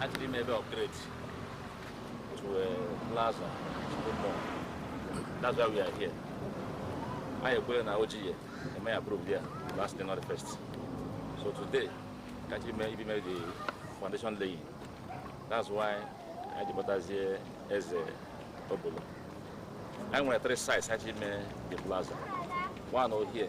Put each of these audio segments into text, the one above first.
Achọrọ ime ebe upgrade to a plaza shopping mall. That's why we are here. Anyị ekwere na oji ya eme approve ya last day not the first. So today, ka achọrọ ị maybe mee the foundation laying. That's why anyị ji kpọtazie eze obolo. Anyị nwere three sites achọrọ ime the plaza. One over here.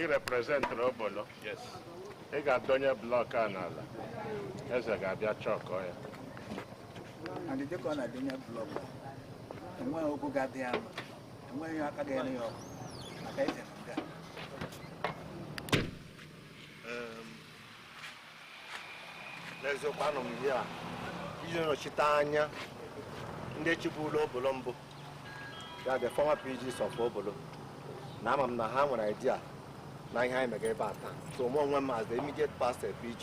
ị reprezentịrị obolo ị ga-adọnye blọk a n'ala eze ga-abịa chọkọ ya and dịka ọ na-adọnye blọk enweghị ọgwụ ga-adị ya mma enweghị ihe aka ga-ere ya ọkụ maka eze na nga n'eziokwu anọ m here iji nọchite anya ndị chịbulu obolo mbụ ya the former PGs of obolo na ama m na ha nwere idea na ihe anyị mega ebe a taa so mụ onwe m as the immediate past PG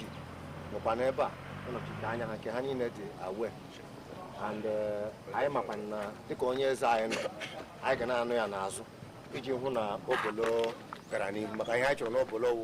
nọkwa n'ebe a ịnọchite anya ha nke ha niile dị aware and eh, anyị makwa na dịka onye eze anyị nọ anyị ga na-anọ ya n'azụ iji hụ na obolo gara n'ihu maka ihe anyị chọrọ n'obolo wụ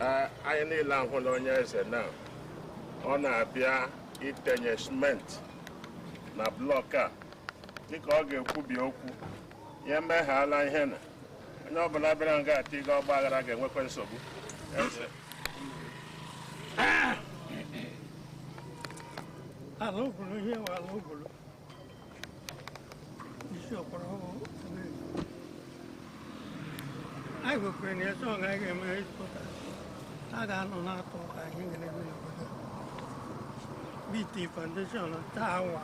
Ee, anyị niile ahụla onye eze na ọ na-abịa itenye simenti na blọk a dịka ọ ga-ekwubi okwu ya emeghala ihe na onye ọbụla bịara nga a tiga ọgba aghara ga-enwekwa nsogbu Eze. ala obolo ihe nwe ala obolo isi ọkpọrọ ọhụrụ anyị kwekwere na eze ọga anyị ga-eme ịtụta a ga-anọ na-atọ ka ihe ga na-eme n'obodo bt foundation taa awa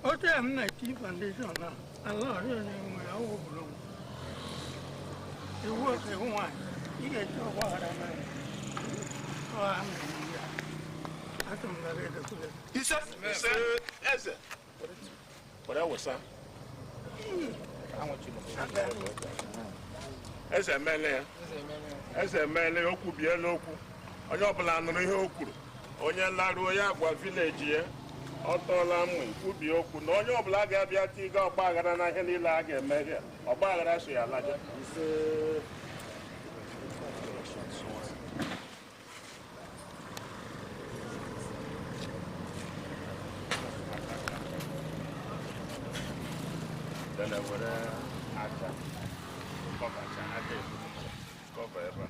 otu ya m na-eti foundation a ise ise eze were wụsa eze emele ya eze emele ya o kwubiele okwu onye ọbụla nụrụ ihe o kwuru onye laruo ya gwa vileji ya ọ tọọla mma ikwubi okwu na onye ọbụla ga-abịa tiga ọgba aghara na ihe niile a ga-eme ihe ọgba aghara so ya laja Dana were aja kọbacha aja ebu kọba ebe a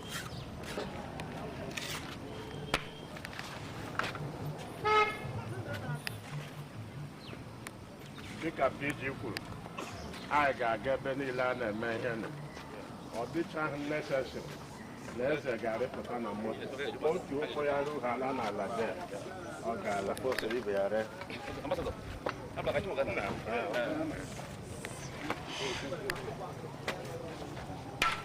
dịka PG kwuru anyị ga-aga ebe niile a na-eme ihe nụ. ọ dịchaghị necessary na eze ga-arịpụta na moto otu ụkwụ ya ruo ala n'ala de ọ ga-ala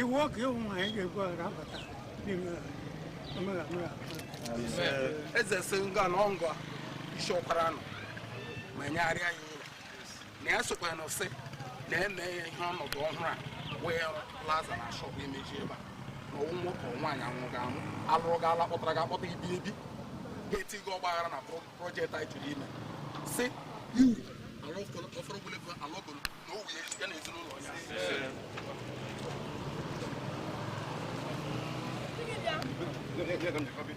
iwu ọka ịhụ na anyị ga-egwu aghara abata n'ime omega mere eze si nga na ọngwa isi ọkwara nọ ma nyegharịa ya na ya sokwa na sị na eme ya ihe ọnọdụ ọhụrụ a wee plaza na shọp imezi ebe a na ọ wụ nwoke ọ nwaanyị amụrụ gị amụ alụrụ gị alụ kpọtara gị akpọta ibi ebi ga-eti gị ọgbaghara na pro- projekti anyị chọrọ ime si iwu ala ọfọrọ ọfọrọ ogologo ala ọgolo na owu ya ya na ezinụlọ ya Gịnị bịa?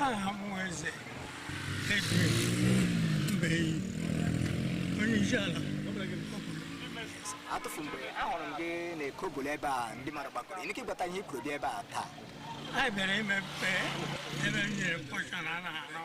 aha m wụ eze Edwin Mbeyi onye isi ala atụfu mgbe ahụrụ m gị n'Eke Obolo ebe a ndị mmadụ gbakọrọ i nwere ike ịgbata ihe kwuru bịa ebe a taa anyị bịara imepe ebe m nyere mkpọcha na a na-arụ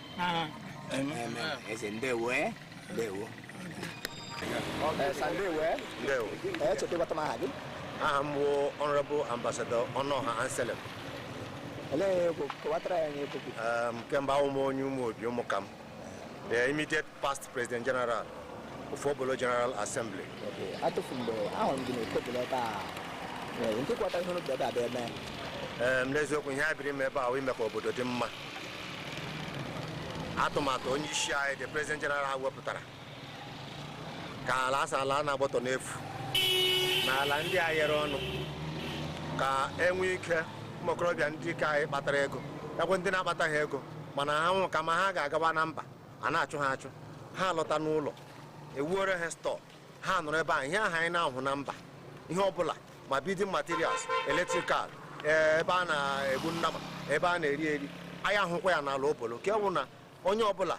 eze ndewo eh? ndewo echeta ịgbata m aha gị aha m wụ Honorable Ambassador Ọnụọha Anselm olee kọwatara ya nye kemgbe awụ m onye Ụmụobi Ụmụkam the immediate past president general of Obolo General Assembly. Okay. Atụfu mgbe ahụrụ m gị n'Eke Obolo ebe a ee, nke kọwata ihe n'obodo ebe a bịa eme Ee, m n'eziokwu ihe a bịara ime ebe a wụ ime ka obodo dị mma atụmatụ onye isi anyị the president general ha wepụtara ka ala asa ala a na-agbọtọ n'efu na ala ndị a yere ọnụ ka enwee ike ụmụ okorobịa ndị ke anyị kpatara ego ekwe ndị na-akpataghị ego mana ha nwụ kama ha ga-agaba na mba a na-achụ ha achụ ha alọta n'ụlọ ewuore ha stọọ ha nọrọ ebe ahụ ihe ahụ anyị na-ahụ na mba ihe ọbụla ma building materials electrical eh, ebe a na-egbu nnama ebe a na-eri eri anyị ahụkwa ya n'ala Obolo ka ọ wụ na onye ọbụla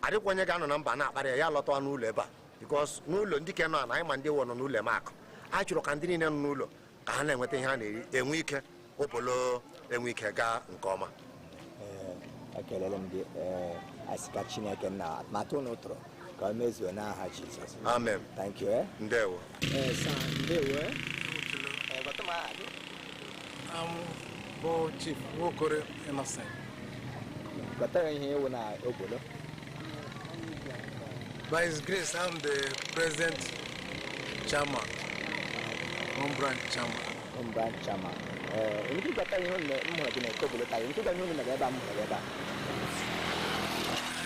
adịkwa onye ga-anọ na mba na-akparị ya ya lọtawa n'ụlọ ebe a because n'ụlọ ndị ke nọ na anyị ma ndị wọ nọ n'ụlọ eme akụ a chọrọ ka ndị niile nọ n'ụlọ ka ha na-enweta ihe a na-eri enwe ike Obolo enwe ike gaa nke ọma ekelele m gị asị ka chineke na atụmatụ ụnụ tụrụ ka o mezuo n'aha jizọs amen thank you eh? ndewo ndewo eh? bụ chief nwokoro innocent gwata anyị ihe ị wụ na Obolo By His grace, I'm the present chairman, home branch chairman. Home branch chairman. Eh, ndị gwata ihe unu m hụrụ gị na Eke Obolo taa, ndị gwata ihe unu mere ebe a m hụrụ ebe a.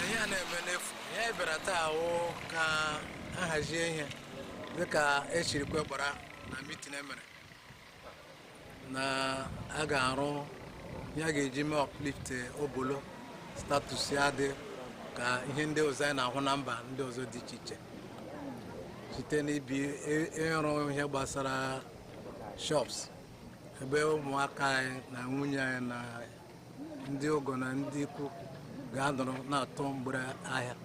Ihe a na-eme n'efu, ihe anyị bịara taa wụ ka a hazie ihe dịka esirikwa kpara na mitin emere. na a ga-arụ ihe a ga-eji mee uplift Obolo status ya dị ka ihe ndị ọzọ anyị na-ahụ na mba ndị ọzọ dị iche iche site n'ibi ị- ịrụ ihe gbasara shops ebe ụmụaka anyị na nwunye anyị na ndị ọgọ na ndị ikwu ga-anọrọ na-atụ mgbere ahịa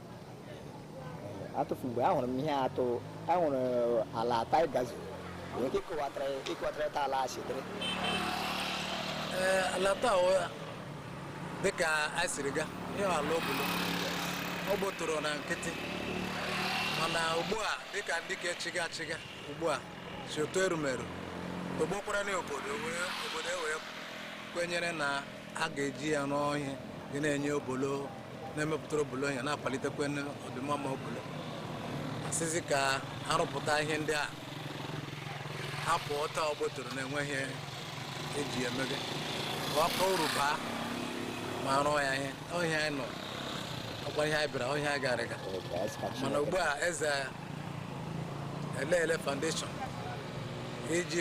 atụfu mgbe ahụrụ m ihe atụ ahụrụ ala ata gazu nwere ike ịkọwatara ịkọwatara ta ala sitere ee ala taa ọ- dịka a siri ga ihe ala Obolo ọ gbọtọrọ na nkịtị mana ugbu a dịka ndị ka chiga chiga ugbu a si otu erumeru togbokwara na obodo wee- obodo ewee kwenyere na a ga-eji ya rụọ ihe ga na-enye Obolo na-emepụtara Obolo ihe na-akwalitekwa ọdịmma ma Obolo asịzi ka arụpụta ihe ndị a hapụ otu ọ gbọtọrọ na-enweghị ihe eji emebe ka ọ kọọ uru baa ma rụọ ya ihe ọ ihe anyị nọ ọkwa ihe anyị bịara ọ ihe anyị garịga mana ugbu a eze eleele foundation iji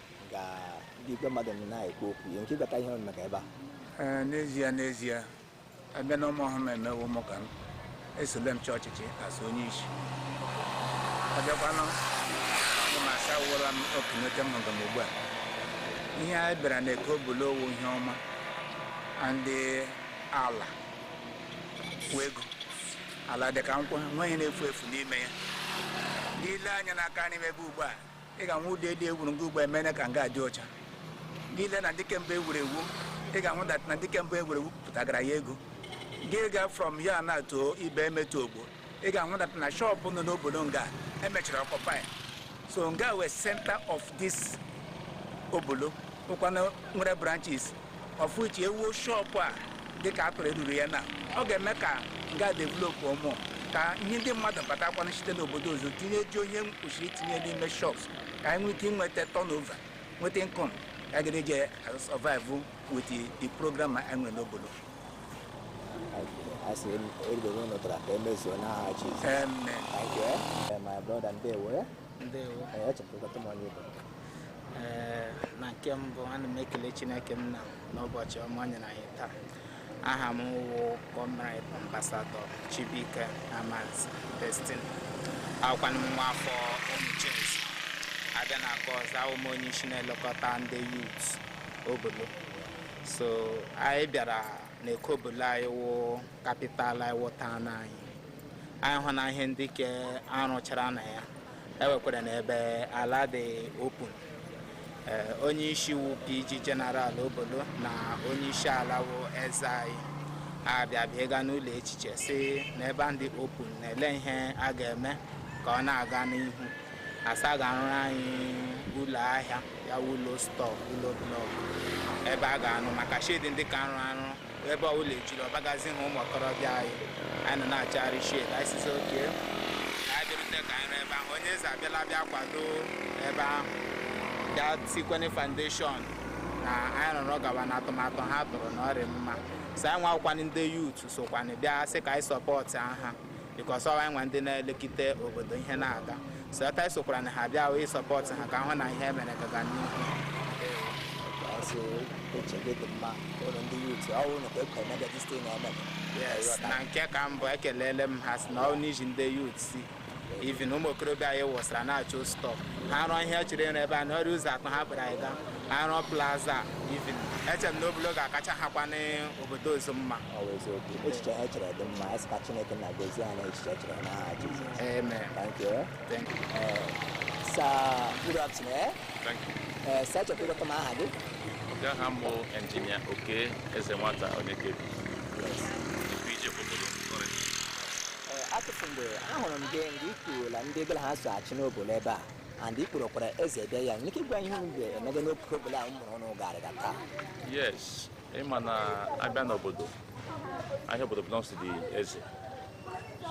ka ndị igwe mmadụ nọ na-ekwu okwu ihe nke ịgbata ihe ọnụ maka ebe a Ee, n'ezie n'ezie abịa na ụmụ ọhụrụ emewo m ka m esole m chọọ ọchịchị asụ onye isi abịakwanụ ndị m asawụla m okenete m hụrụ m ugbu a ihe anyị bịara na Eke Obolo wụ ihe ọma ndị ala wụ ego ala dị ka nkwụ nweghị ihe na-efu efu n'ime ya i lee anya n'aka nri m ebe ugbu a ị ga-ahụ ụlọ elu ewuru nga ugbu a emene ka nga dị ọcha gị lee na ndị kemgbe ewuru ewu ị ga-ahụ that na ndị kemgbe ewuru ewu pụtagara ya ego gị ga from here now to Ibeme to Ogbor ị ga-ahụ that na shọpụ nọ n'Obolo nga emechara occupy ya so nga wụ center of this Obolo ọkwa nga nwere branches of which ewuo shọpụ a dịka atụrụ eruru ya na ọ ga-eme ka nga develop ụmụ ka ihe ndị mmadụ batakwana site n'obodo ọzọ tinye ji ihe kwesịrị itinye n'ime shops ka anyị nwee ike inweta turnover nweta income ka a ga-eji survive with the- the program anyị nwere n'Obolo asị erigbo na ụlọ tara ka emezuo n'aha Jizọs Amen. Thank you, eh? Eh, my brother ndewo eh? ndewo Eh, echepụtakwa m onye bụ Ee, na nke mbụ ana m ekele chineke nna n'ụbọchị ọma o nyere anyị taa aha m wụ comrade ambasadọ chibuike amanze destiny awụkwanụ m nwa afọ umuchezi abịa na nke ọzọ awụ m onye isi na-elekọta ndị yut obolo so anyị bịara na eke obolo anyị wụ kapital anyị wụ taụn anyị anyị hụ na ihe ndị ke arụchara na ya enwekwara na ebe ala dị open eh, onye isi wụ PG General Obolo na onye isi ala wụ eze anyị abịa bịa ịga n'ụlọ echiche si na ebe a dị open na-ele ihe a ga-eme ka ọ na-aga n'ihu a sị a ga-arụrụ anyị ụlọ ahịa ya wụ ụlọ stọọ ụlọ blọk ebe a ga-anụ maka shedi ndị ka arụ arụ ebe ọbụla ejiri ọbagazi ha ụmụ okorobịa anyị anyị nọ na-achọgharị shed anyị sịzi okay ka anyị bịarute ka anyị rụọ ebe ahụ onye eze abịala bịa kwado ebe ahụ bịa tikwene foundation na anyị rụrụ gawa na atụmatụ ha tụrụ na ọ rị mma so anyị nwakwanị ndị yut sokwanị bịa sị ka anyị sọpọtụ ha bikos ọ wụ anyị nwa ndị na-elekọta obodo ihe na-aga so ata anyị sokwara na ha bịa wee sọpọtụ ha ka hụ na ihe mere ga-aga n'ihu That's all. Put your bit of man. All on the youth. I want to come and get this thing on yes na nke ka mbụ ekelele m ha si na onye isi ndị yut si ivin ụmụ okorobịa anyị wụsara na-achọ stọọ ha rụọ ihe chere ịrụ ebe a na ọ rị ụzọ atọ ha kpere anyị ga-arụ plaza ivin eche m na Obolo ga-akacha ha kwa n'obodo ọzọ mma Ọ bụ eziokwu. Echiche ha chere dị mma. Anyị sị ka Chineke nna gozie ha na echiche chere n'aha Jizọs. Amen. Thank you. eh. Thank you. Eh, Sir, good afternoon. eh. Thank you. Eh, Sir, chọrọ ịgwatụ m aha gị? Okay aha m wụ injinia Okey Ezenwata Onyekebi. Yes. The PG Obolo sorry. Eh, Atụfu mgbe ahụrụ m gị mgbe i kwurula ndị gị na ha so achị n'obodo ebe a and i kpọrọkwara eze bịa ya nwere ike ịgwa ihe unu ga-emega n'Eke Obolo a ụmụrụ ụnụ garịga taa Yes, ịma na abịa n'obodo ahịa obodo belongs to the eze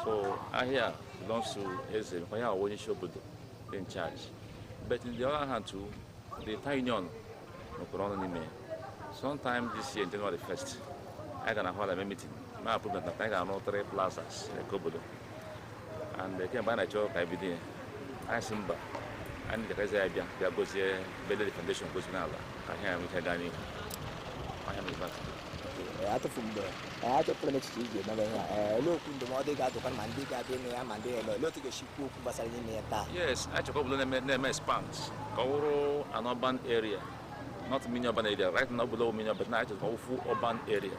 so ahịa belongs to eze maka ya wụ onye isi obodo dị in charge but in the other hand too the town union nọkwaranụ n'ime sometime this year in January 1st anyị ga na hall eme meeting ma approve na anyị ga-arụ three plazas n'Eke Obolo and eh, kemgbe a na-achọ ka ebido ya anyị si mba anyị jekezi ya bịa bịa gozie bịa lay the foundation gozie n'ala ka ihe ya nwee ike gaa n'ihu ọ ihe a mere but Ee, atụfu mgbe ee, achọpụtara m echiche iji emebe ihe a Ee, olee okwu ndụmọdụ ị ga-adụkwa ma ndị ga-abịa ịnụ ya ma ndị ga-eme olee otu ị ga-esi kwuo okwu gbasara ime ya taa yes a chọ ka obodo na-eme na-eme expand ka ọ wụrụ an urban area not mini urban area right now obodo mini urban na a chọ ka ọ full urban area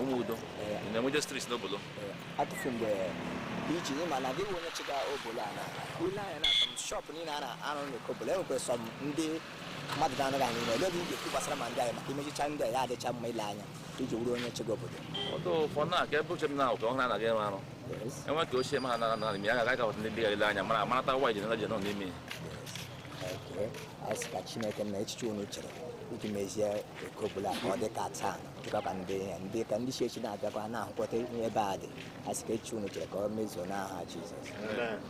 Umudo na-enweje streets n'obodo atụfu mgbe iji ịma na gị onye chịga obodo a na ile anya na some shop niile a na-arụ n'Eke obodo enwekwa some ndị mmadụ ga-anọga n'ime olee ị ga-ekwu gbasara ma ndị anyị maka imechicha ndị a ya adịcha mma ile anya iji wuru onye chịga obodo although for now ka ebe uche m na ụka ọhụrụ anaghị enwe arụ enwe ka ochie ma ha nara nara ime ya agaghị agawata ndị gara ile anya mara amarata waịdị na je nọ n'ime ya anyị sị ka Chineke na echiche unu chere iji mezie Eke obodo a ka ọ dị ka taa dịkwa ka ndị ya ndị ka ndị echi echi na-abịakwa na-ahụkọta ihe ebe a dị anyị sị ka echiche unu chere ka ọ mezuo n'aha Jizọs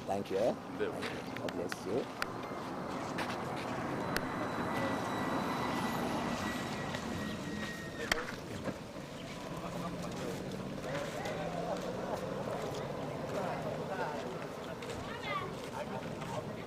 thank you eh? God bless you